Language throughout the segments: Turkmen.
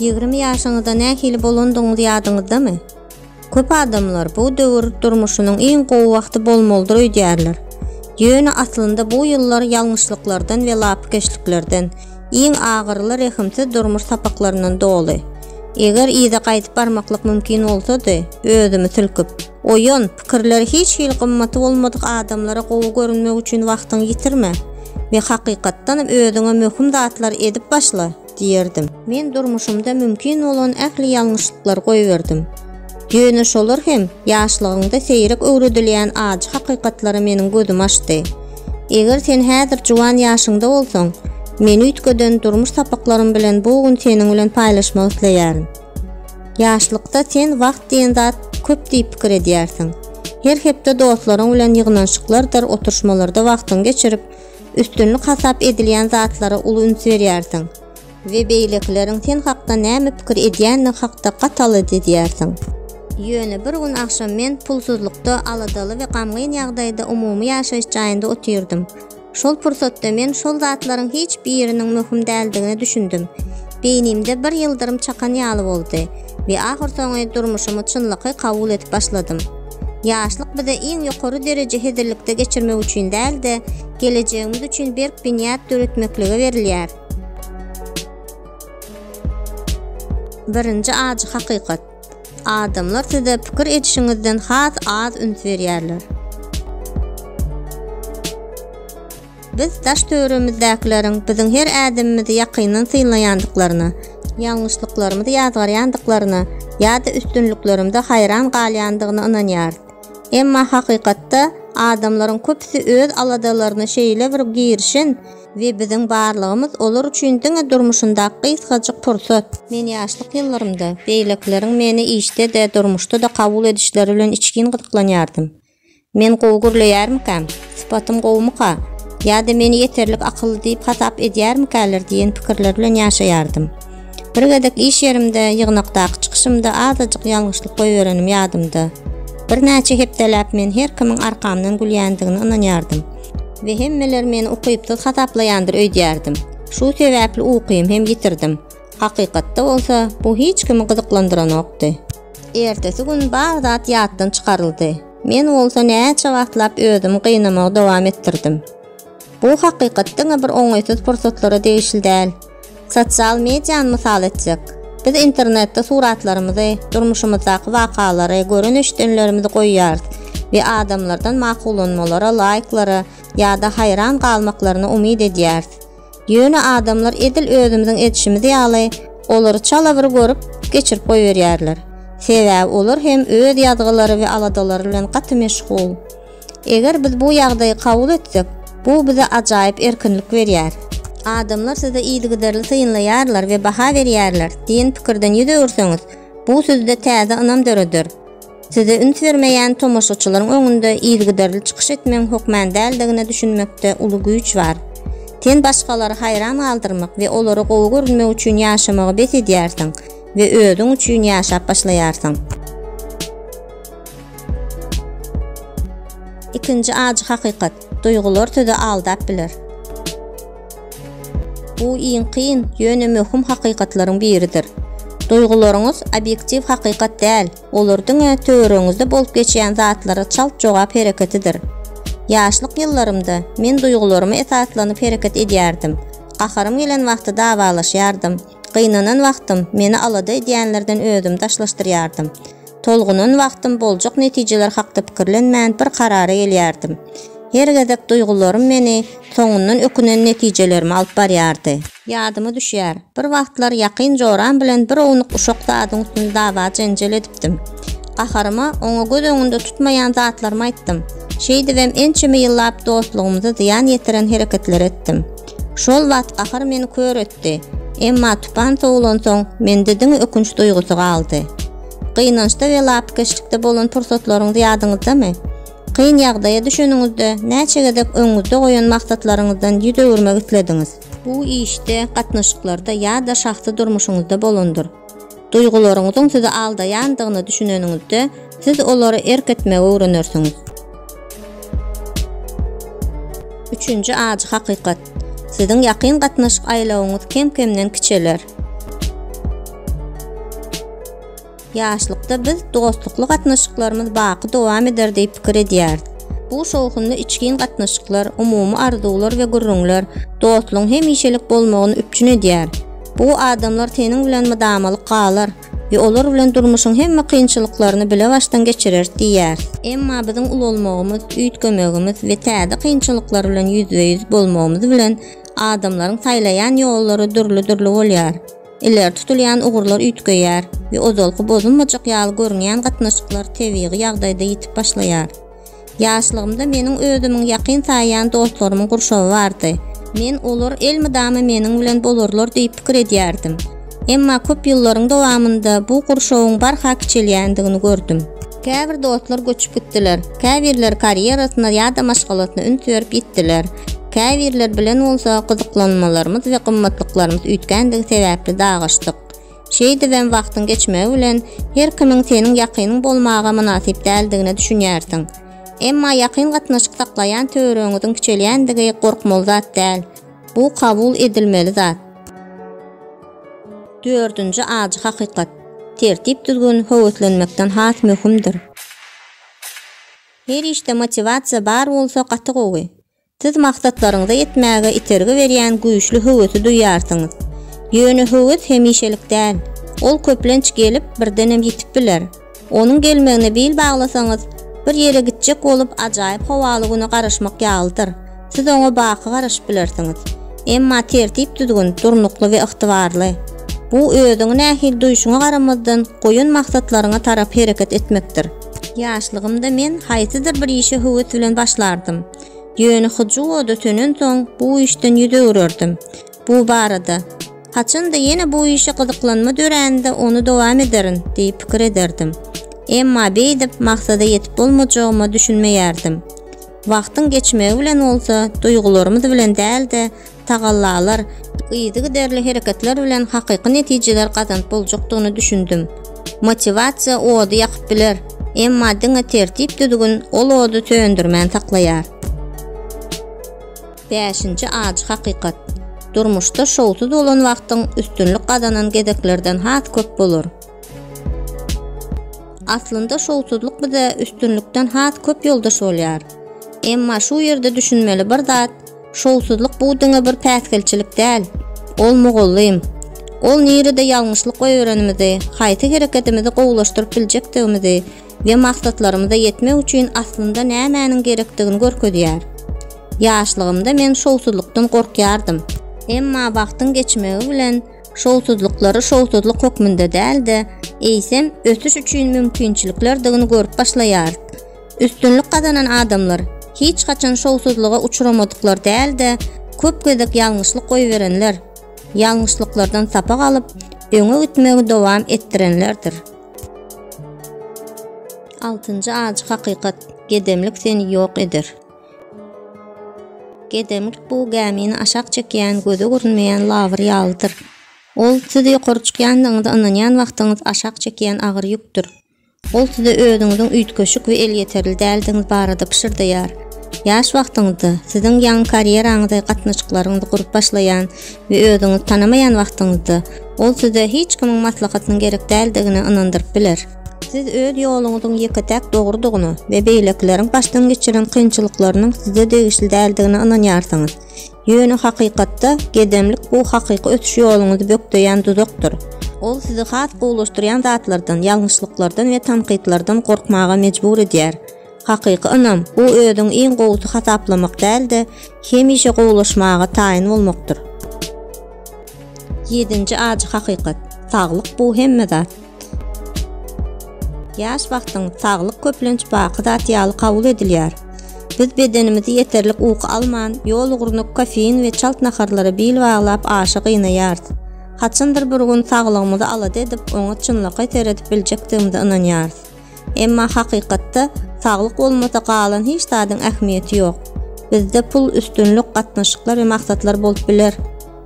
Ýigrimi ýaşyňyzda nähili bolandygyňyz ýadyňyzdamy? Köp adamlar bu döwür durmuşynyň iň gowy wagty bolmalydyr öýdýärler. Ýöne aslynda bu ýyllar ýalňyşlyklardan we lapykeçliklerden, iň agyryly rehimsiz durmuş sapaklaryndan doly. Eger yza gaýdyp barmaklyk mümkin bolsady, özümi silkip. Oýan, pikirleri hiç hili gymmaty bolmadyk adamlara gowy görünmek üçin wagtyňy ýitirme we hakykatdanam özüňe möhüm zatlary edip başla! diýerdim. Men durmuşymda mümkin bolan ähli ýalňyşlyklary goýberdim. Ýöne şolar hem ýaşlygyňda seýrek öwredilýän ajy hakykatlara meniň gözümi açdy. Eger sen häzir juwan ýaşyňda bolsaň, men üýtgeden durmuş sapaklarym bilen bu gün seniň bilen paýlaşmak isleýärin. Ýaşlykda sen wagt diýen zat köp diýip pikir edýärsiň. Her hepde dostlaryň bilen ýygnanyşyklardyr oturyşmalarda wagtyňy geçirip, üstünlik hasap edilýän zatlara uly üns berýärsiň we beýlekileriň sen hakda näme pikir edýändigi hakda gaty alada edýärsiň. Ýöne bir gün agşam men pulsuzlykda, aladaly we gamgyn ýagdaýda umumy ýaşaýyş jaýynda otyrdym. Şol pursatda men şol zatlaryň hiç biriniň möhüm däldigine düşündim. Beýnimde bir ýyldyrym çakan ýaly boldy we ahyrsoňy durmuşymy çynlakaý kabul edip başladym. Ýaşlyk bize iň ýokary dereje hezillikde geçirmek üçin däl-de, gelejegimiz üçin berk binýat döretmeklige berilýär. Birinji ajy hakykat. Adamlar size pikir edişiňizden has az üns berýärler. Biz daş-töweregimmzdäkileriň biziň her ädimimizi ýakyndan synlaýandyklaryna, ýalňyşlyklarymyzy ýazgarýandyklaryna ýa-da üstünliklerimize haýran galýandygyna ynanýarys. Emma hakykatda adamlaryň köpüsi öz aladalaryna şeýle bir girişen, We biziň barlygymyz olar üçin diňe durmuşyndaky gysgajyk pursat. Men ýaşlyk ýyllarymda, beýlekileriň meni işde-de, durmuşda-da kabul edişleri bilen içgin gyzyklanýardym. Men gowy gürleýärmikäm? Sypatym gowumyka? Ýa-da meni ýeterlik akylly diýip hasap edýärmikäler diýen pikirler bilen ýaşaýardym. Bir gezek iş ýerimde, ýygnakdaky çykyşymda azajyk ýalňyşlyk goýberenim ýadymda. Birnäçe hepdeläp men her kimiň arkamdan gülýändigine ynanýardym. we hemmeler meni ukypsyz hasaplaýandyr öýdýärdim. Şu sebäpli ukymy hem ýitirdim. Hakykatda bolsa, bu hiç kimi gyzyklandyranokdy. Ertesi gün bar zat ýatdan çykaryldy. Men bolsa näçe wagtlap özümi gynamagy dowam etdirdim. Bu hakykat diňe bir oňaýsyz pursatlara degişli däl. Sosial mediany mysal etsek, biz internetde suratlarymyzy, durmuşymyzdaky wakalary, gören-eşidenlerimizi goýýarys we adamlardan makullanmalara, laýklara ýa-da haýran galmaklaryna umyt edýäris. Ýöne adamlar edil özümiziň edişimiz ýaly, olary çala bir görüp, geçirip goýberýärler. Sebäbi olar hem öz ýazgylary we aladalary bilen gaty meşgul. Eger biz bu ýagdaýy kabul etsek, bu bize ajaýyp erkinlik berýär. Adamlar sizi yzygiderli synlaýarlar we baha berýärler diýen pikirden ýüz öwürseňiz, bu sizde täze ynam döreder. Size üns bermeýän tomaşaçylaryň öňünde yzygiderli çykyş etmegiň hökman däldigine düşünmekde uly güýç bar. Sen başgalary haýran galdyrmak we olara gowy görünmek üçin ýaşamagy bes edýärsiň we özüň üçin ýaşap başlaýarsyň. Ikinji ajy hakykat, duýgular sizi aldap biler. Bu iň kyn, ýöne möhüm hakykatlaryň biridir. Duýgularyňyz obýektiw hakykat däl, olar diňe töweregiňizde bolup geçýän zatlara çalt jogap hereketidir. Ýaşlyk ýyllarymda men duýgularyma esaslanyp hereket edýärdim. Gaharym gelen wagty dawalaşýardym. Gynanan wagtym meni alada edýänlerden özümi daşlaşdyrýardym. Tolgunan wagtym boljak netijeler hakda pikirlenmän bir karara gelýärdim. Her gezek duýgularym meni soňundan ökünen netijelerime alyp barýardy. Ýadyma düşýär, bir wagtlar ýakyn joram bilen bir ownuk uşak zadyň üstünde dawa-jenjel edipdim. Gaharyma oňa göz öňünde tutmaýan zatlarymy aýtdym. Şeýdibem ençeme ýyllap dostlugymyza zyýan ýetiren hereketleri etdim. Şol wagt gahar meni kör etdi. Dy. Emma tupan sowulansoň, mende diňe ökünç duýgusy galdy. Gynançda we lapykeçlikde bolan pursatlaryňyz ýadyňyzdamy? Kyn ýagdaýa düşeniňizde, näçe gezek öňüňizde goýan maksatlaryňyzdan ýüz öwürmek islediňiz? Bu işde, gatnaşyklarda ýa-da şahsy durmuşyňyzda bolandyr. Duýgularyňyzyň sizi aldaýandygyna düşüneniňizde, siz olara erk etmegi öwrenersiňiz. Üçünji ajy hakykat. Siziň ýakyn gatnaşyk aýlawyňyz kem-kemden kiçeler. Ýaşlykda biz dostlukly gatnaşyklarymyz baky dowam eder diýip pikir edýäris. Bu şowhunly içgin gatnaşyklar, umumy arzuwlar we gürrüňler dostlugyň hemişelik bolmagyny üpjün edýär. Bu adamlar seniň bilen mydamalyk galar we olar bilen durmuşyň hemme kynçylyklaryny bilebaşdan geçireris diýýär. Emma biziň ulalmagymyz, üýtgemegimiz we täze kynçylyklar bilen ýüzbe-ýüz bolmagymyz bilen adamlaryň saýlaýan ýollary dürli-dürli bolýar. Ileri tutulýan ugurlar üýtgeýär we ozalky bozulmajak ýaly görünýän gatnaşyklar tebigy ýagdaýda ýitip başlaýar. Ýaşlygymda meniň özümiň ýakyn saýýan dostlarymyň gurşawy bardy. Men olar elmydama meniň bilen bolarlar diýip pikir edýärdim. Emma köp ýyllaryň dowamynda bu gurşawyň barha kiçelýändigini gördüm. Käbir dostlar göçüp gitdiler, käbirleri karýerasyna ýa-da maşgalasyna üns berip ýitdiler, käbirleri bilen bolsa gyzyklanmalarymyz we gymmatlyklarymyz üýtgändigi sebäpli dalaşdyk. Şeýdibem wagtyň geçmegi bilen her kimiň seniň ýakynyň bolmaga mynasyp däldigine düşünýärsiň. Emma ýakyn gatnaşyk saklaýan töweregiňiziň kiçelýändigi gorkmaly zat däl. Bu kabul edilmeli zat. Dördünji ajy hakykat. Tertip-düzgün höweslenmekden has möhümdir. Her işde motiwasiýa bar bolsa gaty gowy. Siz maksatlaryňyza ýetmäge itergi berýän güýçli höwesi duýýarsyňyz. Ýöne höwes hemişelik däl. Ol köplenç gelip, birdenem ýitip biler. Onuň gelmegine bil baglasaňyz, bir ýere gitjek bolup ajaýyp howaly güne garaşmak ýalydyr. Siz oňa baky garaşyp bilersiňiz. Emma tertip-düzgün, durnukly we ygtybarly. Bu özüňi nähili duýşuňa garamazdan, goýan maksatlaryňa tarap hereket etmekdir. Ýaşlygymda men haýsydyr bir işe höwes bilen başlardym. Ýöne hyjuw ody sönensoň bu işden ýüz öwrerdim. Bu barada, Haçanda ýene bu işe gyzyklanma dörände ony dowam ederin diýip pikir ederdim. Emma beýdip maksada ýetip bolmajagyma düşünmeýärdim. Wagtyň geçmegi bilen bolsa duýgularymyz bilen däl-de, tagallalar, yzygiderli hereketler bilen hakyky netijeler gazanyp boljakdygyna düşündim. Motiwasiýa ody ýakyp biler, emma diňe tertip-düzgün ol ody söndürmän saklaýar. Bäşinji ajy hakykat, Durmuşda şowsuz bolan wagtyň üstünlik gazanan gezeklerden has köp bolar. Aslynda şowsuzlyk bize üstünlikden has köp ýoldaş bolýar. Emma şu ýerde düşünmeli bir zat, Şowsuzlyk bu diňe bir päsgelçilik däl. Ol mugallym. Ol nirede ýalňyşlyk öýerenimizi, haýsy hereketimizi gowulaşdyryp biljekdigimizi we maksatlarymyza ýetmek üçin aslynda nämäniň gerekdigini görkezýär. Ýaşlygymda men şowsuzlykdan gorkýardym. Emma wagtyň geçmegi bilen şowsuzlyklary şowsuzlyk hökmünde däl-de, eýsem, ösüş üçin mümkinçiliklerdigini görüp başlaýarys. Üstünlik gazanan adamlar, hiç haçan şowsuzlyga uçramadyklar däl-de, köp gezek ýalňyşlyk goýberenler, ýalňyşlyklardan sapak alyp, öňe gitmegi dowam etdirenlerdir. Altynjy ajy hakykat, gedemlik seni ýok eder. Gedemlik bu gämini aşak çekýän, göze görünmeýän labyr ýalydyr. Ol siz ýokary çykýandygyňyza ynanýan wagtyňyz aşak çekýän agyr ýükdür. Ol size özüňiziň üýtgeşik we elýeterli däldigiňiz barada pyşyrdaýar. Ýaş wagtyňyzda, siziň ýaňy karýeraňyzy, gatnaşyklaryňyzy gurup başlaýan we özüňizi tanamaýan wagtyňyzda, ol size hiç kimiň maslahatynyň gerek däldigine ynandyryp biler. Siz öz ýoluňyzyň ýeke-täk dogrudygyna we beýlekileriň başdan geçiren kynçylyklarynyň size degişli däldigine ynanýarsyňyz. Ýöne hakykatda, gedemlik bu hakyky ösüş ýoluňyzy bökdeýän duzakdyr. Ol sizi has gowulaşdyrýan zatlardan, ýalňyşlyklardan we tankytlardan gorkmaga mejbur edýär. Hakyky ynam, bu özüňi iň gowusy hasaplamak däl-de, hemişe gowulaşmaga taýyn bolmakdyr. Ýedinji ajy hakykat, Saglyk bu hemme zat. Ýaş wagtyň saglyk köplenç baky zat ýaly kabul edilýär. Biz bedenimizi ýeterlik uky alman, ýol ugruna kofein we çalt naharlara bil baglap aşa gynaýarys. Haçandyr bir gün saglygymyzy alada edip, oňa çynlakaý seredip biljekdigimize ynanýarys. Emma hakykatda, saglyk bolmasa galan hiç zadyň ähmiýeti ýok. Bizde pul, üstünlik, gatnaşyklar we maksatlar bolup biler.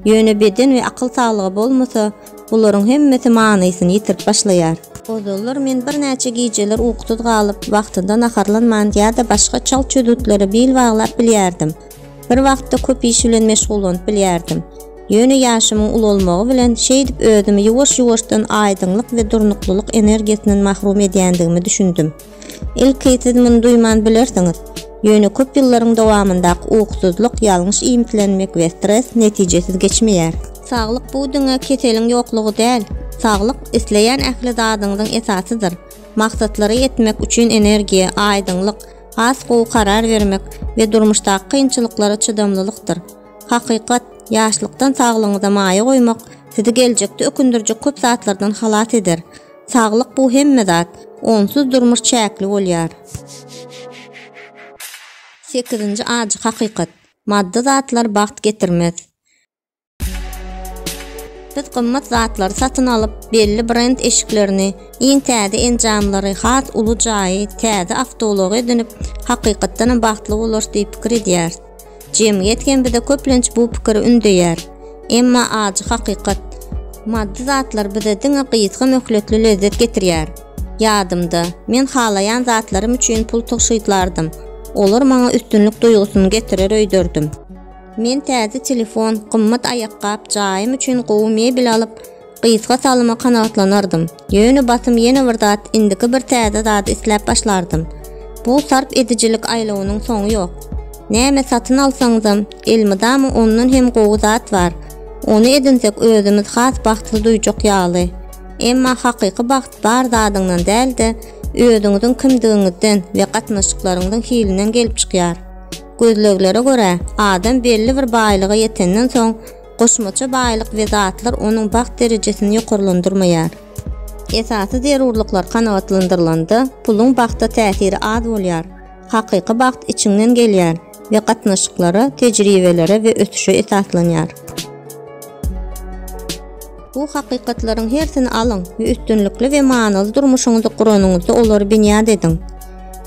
Ýöne beden we akyl saglygy bolmasa, Bularyň hemmesi manysyny ýitirip başlaýar. Ozallar men birnäçe gijeler ukusuz galyp, wagtynda naharlanman ýa-da başga çalt çözgütlere bil baglap bilýärdim. Bir wagtda köp iş bilen meşgullanyp bilýärdim. Ýöne ýaşymyň ulalmagy bilen şeýdip özümi ýuwaş-ýuwaşdan aýdyňlyk we durnuklylyk energiýasyndan mahrum edýändigime düşündim. Ilki siz muny duýman bilersiňiz, ýöne köp ýyllaryň dowamyndaky ukusyzlyk, ýalňyş iýmitlenmek we stres netijesiz geçmeýär. Saglyk bu diňe keseliň ýoklugy däl, saglyk isleýän ähli zadyňyzyň esasydyr. Maksatlary ýetmek üçin energiýa, aýdyňlyk, has gowy karar bermek we durmuşdaky kynçylyklara çydamlylykdyr. Hakykat, ýaşlykdan saglygyňyza maýa goýmak sizi geljekde ökündirjek köp zatlardan halas eder. Saglyk bu hemme zat. Onsuz durmuş çäkli bolýar. Sekizinji ajy hakykat. Maddy zatlar bagt getirmez. Biz gymmat zatlary satyn alyp, belli brend eşiklerini, iň täze enjamlary, has uly jaýy, täze awtoulagy edinip, hakykatdanam bagtly bolarys diýip pikir edýäris. Jemgyýet hem bize köplenç bu pikiri ündeýär. Emma ajy hakykat, maddy zatlar bize diňe gysga möhletli lezzet getirýär. Ýadymda, men halaýan zatlarym üçin pul tygşytlardym, olar maňa üstünlik duýgusyny getirer öýderdim. Men täze telefon, gymmat aýakgap, jaýym üçin gowy mebel alyp, gysga salyma kanagatlanardym. Ýöne basym ýene bir zat indiki bir täze zady isläp başlardym. Bu sarp edijilik aýlawynyň soňy ýok. Näme satyn alsaňyzam, elmydama ondan hem gowy zat bar. Ony edinsek özümiz has bagtly duýjak ýaly. Emma hakyky bagt bar zadyňdan däl-de, özüňiziň kimdigiňizden we gatnaşyklaryňyzyň hilinden gelip çykýar. Gözleglere görä, adam belli bir baýlyga ýetenden soň, Goşmaça baýlyk we zatlar onuň bagt derejesini ýokarlandyrmaýar. Esasy zerurlyklar kanagatlandyrylanda, puluň bagta täsiri az bolýar. Hakyky bagt içiňden gelýär we gatnaşyklara, tejribelere we ösüşe esaslanýar. Bu hakykatlaryň hersini alyň we üstünlikli we manyly durmuşyňyzy guranyňyzda olary binýat ediň.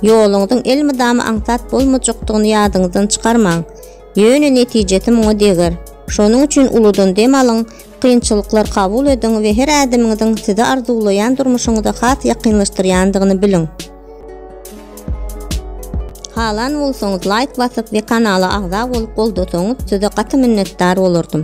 Ýoluňyzyň elmydama aňsat bolmajakdygyny ýadyňyzdan çykarmaň. Ýöne netijesi muňa deger. Şonuň üçin uludan dem alyň, kynçylyklar kabul ediň we her ädimiňiziň sizi arzuwlaýan durmuşyňyza has ýakynlaşdyrýandygyny biliň. Halan bolsaňyz laýk basyp we kanala agza bolup goldasaňyz size gaty minnetdar bolardym.